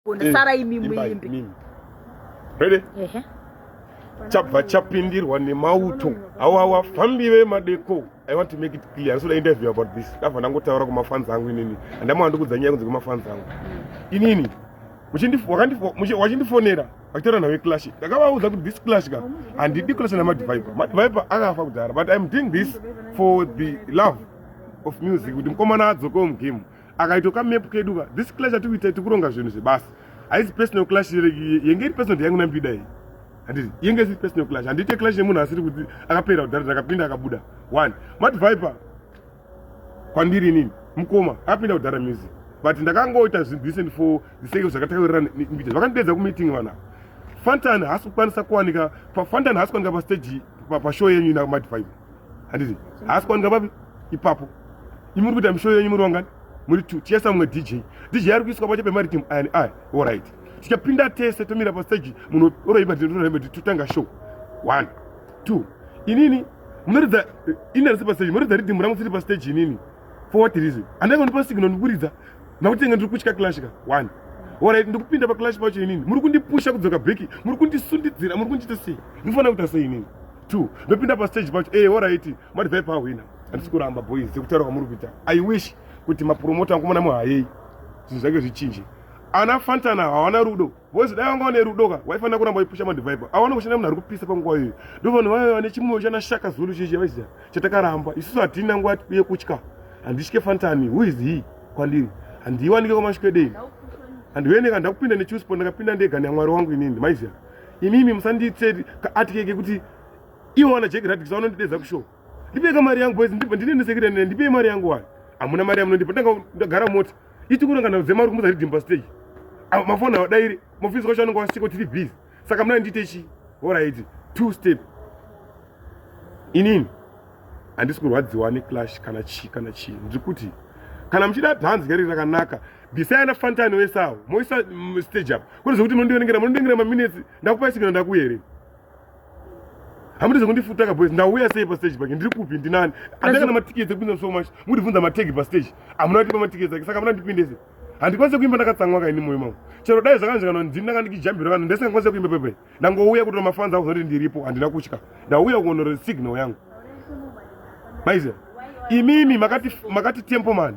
Gona sara imi muimbi. Mimi. Ready? Ehe. Chabva chapindirwa nemauto. Awa wa fambi ve madeko. I want to make it clear. So the interview about this. Ndava ndangotaura kuma fans angu inini. Andama ndikudza nyaya kunze kuma fans angu. Inini. Wachindifonera. Akitaura nawe clash. Ndakavaudza kuti this clash ka. Handidi clash na Madviper. Madviper akafa kudhara but I'm doing this for the love of music. Kuti mkomana adzoko mu game. akaitwa kamepu kedu ka this clash atiri kuita tikuronga zvinhu zvebasa haisi personal clash yenge iri personal yangu nambida iyi handiti yenge isiri personal clash handiite clash yemunhu asiri kuti akapera kudhara ndakapinda akabuda one mati viper kwandiri inini mukoma akapinda kudhara music but ndakangoita zvinhu decent for the sake of zvakataurirana nembida vakandidedza kumeeting vana fantan haasi kukwanisa kuwanika fantan haasi kuwanika pastage pashow yenyu ina mati viper handiti haasi kwanika papi ipapo imi muri kuita mishoyo yenyu muri vangani muri two tiesa mumwe dj dj ari kuiswa pache pemaritim aya neaya orit tichapinda tese tomira pasteji munhu oroipa tinotoraimati totanga show one two inini munoridza eh, ini arisi pasteji munoridza ridhimu rangu siri pasteji inini for what reason andaiva ndipa signal ndikuridza nakuti enge ndiri kutya clashka one orit ndikupinda paclash pacho inini muri kundipusha kudzoka beki muri kundisundidzira muri kundiita sei ndinofanira kuita sei inini two ndopinda pastage pacho e horaiti mati vhai pahwina handisi kuramba boys sekutaura kwamuri kuita i wish kuti mapromota ankumona muhayei zvinhu zvake zvichinje ana fantana hawana rudo vozi dai vanga vane rudo ka waifanira kuramba waipusha madivaipa awana kushanda munhu ari kupisa panguva iyoyo ndo vanhu vaive vane chimwoyo chana shaka zulu chichi vaiziva chatakaramba isusu hatina nguva yekutya handitye fantani who is he kwandiri handiiwanike kwamasvikwedei handiveneka ndakupinda nechusport ndakapinda ndega neamwari wangu inini maiziva imimi musandiitse kaatike kekuti ivo vana jack radix vanondidedza kushow ndipei ka mari yangu boys ndibva ndinendesekirene ndipei mari yangu wani hamuna mari yamunondipa ndanga ndagara mota ichikurangana dzema uri kumudza ridimba stage mafoni awadairi mofisi kwacho anonga wasiko tiri busy saka muna ndiite chi horaiti two step inini handisi kurwadziwa neclash kana chii kana chii ndiri kuti kana muchida dhanzi gari rakanaka bvisai ana fantani wese awo moisa mm, stage apa kune zvekuti mondiverengera mondiverengera maminetsi ndakupa isigina ndakuya here hamuti zvekundifutaka boys ndauya sei pastage pake ndiri kupi ndinani andanga na matiketi ekupinda so much mundibvunza mategi pastage hamuna kutipa matiketi ake saka hamuna ndipindese handikwanise kuimba ndakatsamwa kaini moyo mangu chero dai zvakanzvikana ndini ndanga ndikijambira vanhu ndisingakwanise kuimba pepe ndangouya kutora mafanzi ako zvakuti ndiripo handina kutya ndauya kuonora signal yangu maiziva imimi makati, makati tempo mani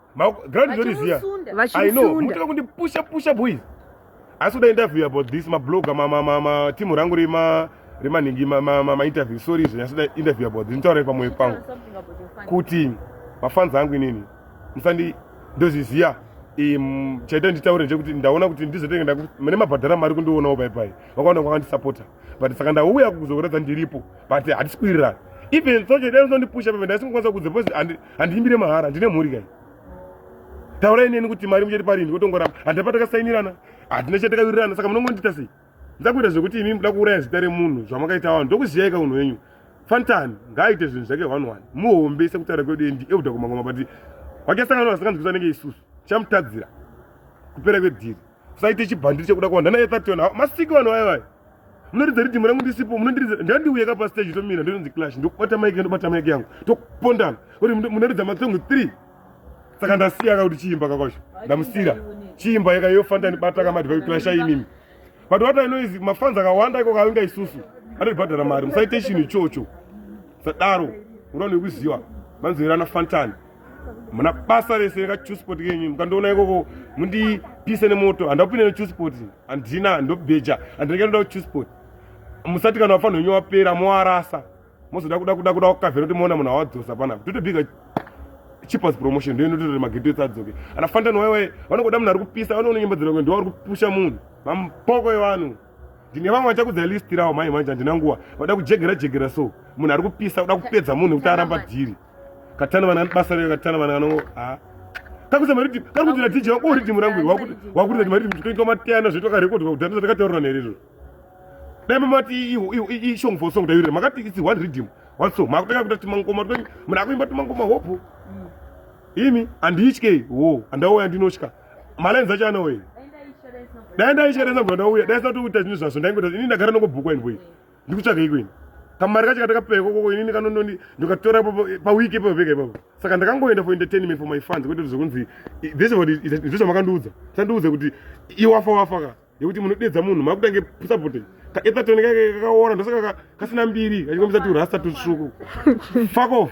ground zori ziya i know mutira kundi pusha pusha boys asi kuda interview about this mabloga matimu rangu rima remanhingi mainterview sorry izvo nyasida interview about this nditaurei pamoyo pangu kuti mafanzi angu inini musandi ndozviziya chaita nditaure ndechekuti ndaona kuti ndizotenge mune mabhadhara mari kundionawo paipai vakaona kwakandisapota but saka ndauya kuzokuratidza ndiripo but hatisi kuwirirana even sochedai zvinondipusha pamene ndaisingokwanisa kudze handiimbire mahara ndine mhuri kai taurai neni kuti mari muchati parini kotongoramba handina patakasainirana handina chatakawirirana saka munongondiita sei ndakuita zvekuti imi muda kuuraya zita remunhu zvamakaita vanhu ndokuziyaika unhu wenyu fantan ngaaite zvinhu zvake one one muhombese kutaura kwedu endi euda kumangoma but wakasangana vasinganzwisa nenge isusu chamutadzira kupera kwedhiri saite chibhandiri chekuda kuwanda naye thationa ah, masiki vanhu vaye vaye munoridza ridhimu rangu ndisipo munondiridza ndandiuye ka pasteji tomira ndononzi clash ndokubata maiki ndobata maiki yangu tokupondana kuti munoridza matsongo three saka ndasiya ka kuti chiimba kakwacho ndamusira chiimba yeka yofanda ndibata ka madhivai clasha imimi but what i know is mafanzi akawanda iko kavinga isusu anotibhadhara mari musaite chinhu ichocho sadaro unonokuziva manzwirana fantani muna basa rese nekachusport kenyu mukandiona ikoko mundipise nemoto handakupinde nechusport handina handobheja handinenge ndoda kuchusport musati kana wafanira unyo wapera moarasa mozoda kuda kuda kuda kukavhera kuti moona munhu awadzosa panapa totobiga cheapers promotion ndio inototora mageto ese adzoke ana fantan wewe vanongoda munhu ari kupisa vanoona nyimbo dzirangwe ndiwo ari kupusha munhu mampoko evanhu ndine vamwe vachakudza list rawo mhai manje handina nguva vada kujegera jegera so munhu ari kupisa kuda kupedza munhu kuti aramba dhiri katana vana basa rega katana vana vano ha kakuza mari ti kari kuti ratija wako uri timu rangu wakuti wakuti kuti mari tikuita matiyana zvetu ka record kuti ndati kataura nere ro dai mama ti i i song for song dai maka ti it's one rhythm one song maka taka kuti timango ma kuti mna kuimba timango ma hope mm. imi and each ke wo anda wo andi noshka mala nza chana we dai ndai share nza bwana uya dai sa tu kuti tazini zvaso ndai kuti ini ndagara nokubhuku and boy ndikutsvaga iko ini kamari kacho katakapewa ikokoko inini kanondoni ndikatora paweek ipapo pega ipapo saka ndakangoenda for entertainment for my fans kwete kuti zvekunzi this what ndizvo zvamandiudza sandiudza kuti iwafa wafa ka yekuti munodedza munhu makutange sapote kaetatoni kake kakaora ndosaka kasina mbiri kachikombisa turasta tutsvuku fuck off